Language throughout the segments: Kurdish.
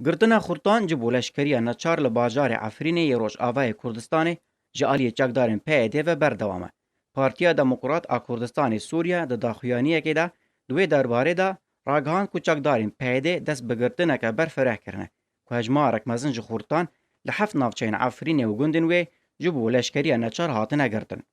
Girtina xurtan ji bo leşkeriya neçar li bajarê Efrînê yê Rojavayê Kurdistanê ji aliyê çekdarên PYDê ve berdewam e. Partiya Demokrat a Kurdistanê Sûriye di daxuyaniyekê de di wê derbarê de ragihand ku çekdarên PYDê dest bi girtineke ber fireh kirine ku hejmarek mezin ji xurtan li heft navçeyên Efrînê û gundên wê ji bo leşkeriya neçar hatine girtin.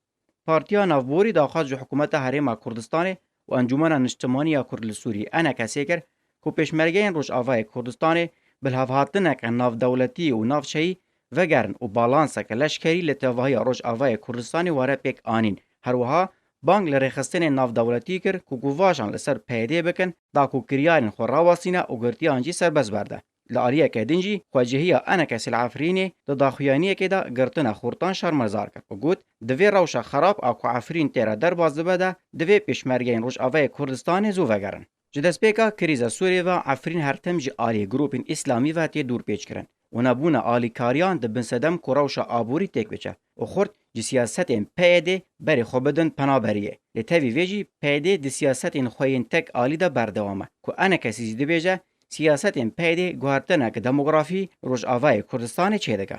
Partiya Navborî daxwaz ji Hikûmeta Herêma Kurdistanê û Encûmena Niştimanî ya Kurd li Sûriyê, Enekesê, kir ku pêşmergeyên Rojavayê Kurdistanê bilhevhatineke navdewletî û navçeyî vegerin û balanseke leşkerî li tevahiya Rojavayê Kurdistanê were pêk anîn. Herwiha bang li rêxistinên navdewletî kir ku guvajan li ser PYD'ê bikin, da ku kiryarên xwe rawestîne û girtiyan jî serbest berde. Li aliyeke din jî xwecihîya Enekes li Efrînê di daxuyaniyekê de girtina xurtan şermezar kir û got, Di vê rewşa xerab a ku Efrîn tê re derbas dibe de divê pêşmergeyên Rojavayê Kurdistanê zû vegerin. Ji destpêka krîza Sûriyê ve Efrîn her tim ji aliyê grûpên îslamî ve tê dûrpêçkirin û nebûna alîkariyan dibin sedem ku rewşa aborî têk biçe. û xurt ji siyasetên PYD berê xwe bidin penaberiyê. Lê tevî vê jî PYD di siyasetên xwe yên tek alî de berdewam e ku ene kesî jî dibêje siyasetên PYD guhertinek demografî Rojavayê Kurdistanê çêdike.